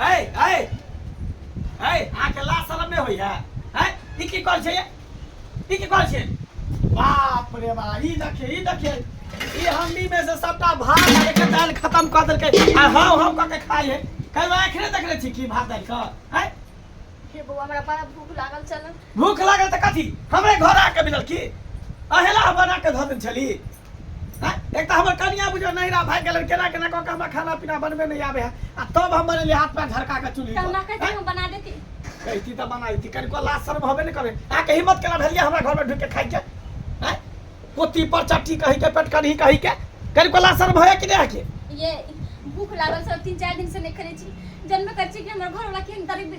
है है है अहाँ के लाज शरम नहीं होइया है ई की कॉल छै ई की कॉल छै बाप रे बा ई देखिए ई देखिए ई हम्मी में से सबटा भात लगे के दाल खत्म कर देल के आ हां हां क के खाई है कल आंख नहीं देखले छी की भात दाल का है हे बौआ हमरा बड़ा भूख लागल चलन भूख लागल त कथी हमरे घर आके मिलल की अहेला बना के धऽ देल छली हैं? एक तो हमर कनिया बुझो नहिरा भाग गेल केना केना कऽ के हमरा खाना पीना बनबे नहीं आवे है आ तब हम बनेलिए हाथ पैर झरका के चूल्ही तब ना पर कहते हैं? हम बना देती कहती तऽ बनाइती कनिको लाज शर्म होबे नहि करे आ के हिम्मत केना भेलिए हमरा घर में ढुक के खाइ के हैं? पोती पर चट्टी कहि के पेट कढ़ी कहि के कनिको लाज शर्म होए कि नहीं है के ये भूख लागल सब तीन चार दिन से नहीं करे छी जनबे कर छी कि हमर घर वाला केहन दरिद्र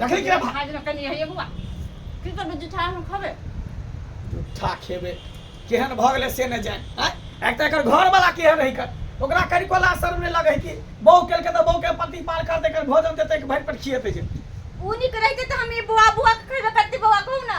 रखै के भा आज कनी हइए बौआ की करबे जुठा हम खबे झूठा खेबे केहन भऽ गेलै से नहि जान आँय? एक तऽ एकर घर वाला केहन रही कर ओकरा करी कोला शर्म नहि लगै कि बहू केलकै तऽ बहू के पति पाल कर देकर भोजन देतै कि भरि पेट खिएतै जे ऊ नीक रहिते तऽ हम ई बौआ बौआ के खैबे करती बौआ कहू ना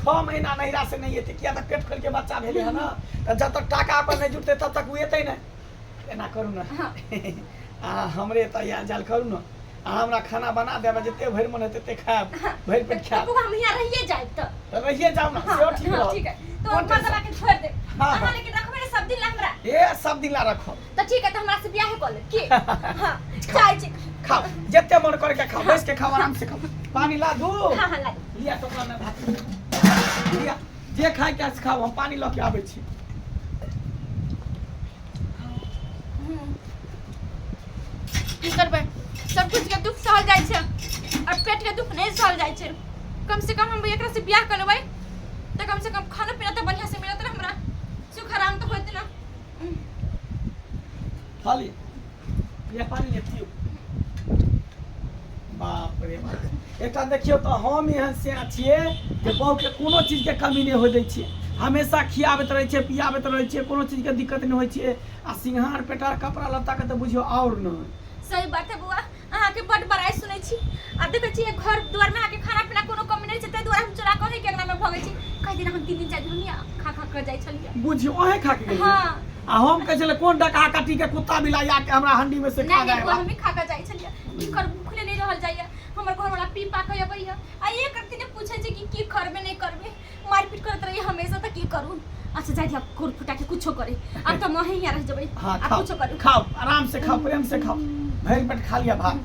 छओ महीना नैहरा से नहि एतै किया तऽ पेट खोलि के बच्चा भेलै है ने तऽ जब तक टाका अपन नहि जुटतै तब तक ओ एतै नहि एना करू ने हँ। अहाँ हमरे एतऽ आयल जायल करू ने अहाँ हमरा खाना बना देबै जते भरि मन हेतै तते खायब भरि पेट खायब बौआ हम यहाँ रहिए जाए तो तऽ रहिए जाउ ने हाँ, सेहो ठीक हाँ, रहत ठीक है तो कोन टेंशन? मर्दवा के छोड़ दे हाँ, हाँ। अहाँ लेकिन रखबे ने सब दिन ला हमरा ए सब दिन ला रखब तऽ ठीक है तऽ हमरा से बियाह कऽ ले की हां चाय छी खाओ जत्ते मन करे के खाओ बैस के खाओ आराम से खाओ पानी ला दू हां हां ला लिया तो में भात लिया जे खाय के से खाओ हम पानी ल के आबै छी हम्म। की करबै सब कुछ के दुख सहल जाइ छै और पेट के दुख नहीं सहल जाइ छै कम से कम हम एकरा से बियाह कर लेबै तऽ कम से कम खाना पीना तऽ बढ़िया से मिलत ना हमरा सुख आराम तऽ होत ना खाली ये पानी ले पियो बाप रे बाप एकटा देखियो तो हम एहन से छिए जे बहु के कोनो चीज के कमी नहीं हो दै छिए हमेशा खियाबैत रहै छिए पियाबैत रहै छिए कोनो चीज के दिक्कत नहीं होइ छिए आ सिंहार पेटार कपड़ा लत्ता के तो बुझियो और न सही बात है बुआ अहाँके बड बड़ाई सुनै छी आ देखै छी एक घर द्वार में आके खाना पीना कोनो कमी नहीं छै ताहि दुआरे हम चोरा कहे के अंगना में भगे छी कह दिन हम तीन दिन चार दिन हम यहाँ खा खा कर जाई छलिए बुझी ओहे खा के गेलियै हाँ आ हम कहै छलै कोन डका काटी के कुत्ता बिलाइ आके हमरा हंडी में से खा नहीं जाए नहीं बा। हम ही खा कर जाई छलिए की कर भूखले नहीं रहल जाइए हमर घर वाला पी पा के अबैया आ एक दिन पूछे छै कि की करबे नहीं करबे मारपीट करत रही हमेशा त की करू अच्छा जाए दिया कोर फुटा के कुछो करे अब त मही यहाँ रह जबई हाँ अब खाओ कुछो करू खाओ आराम से खाओ प्रेम से खाओ भर पेट खा लिया भात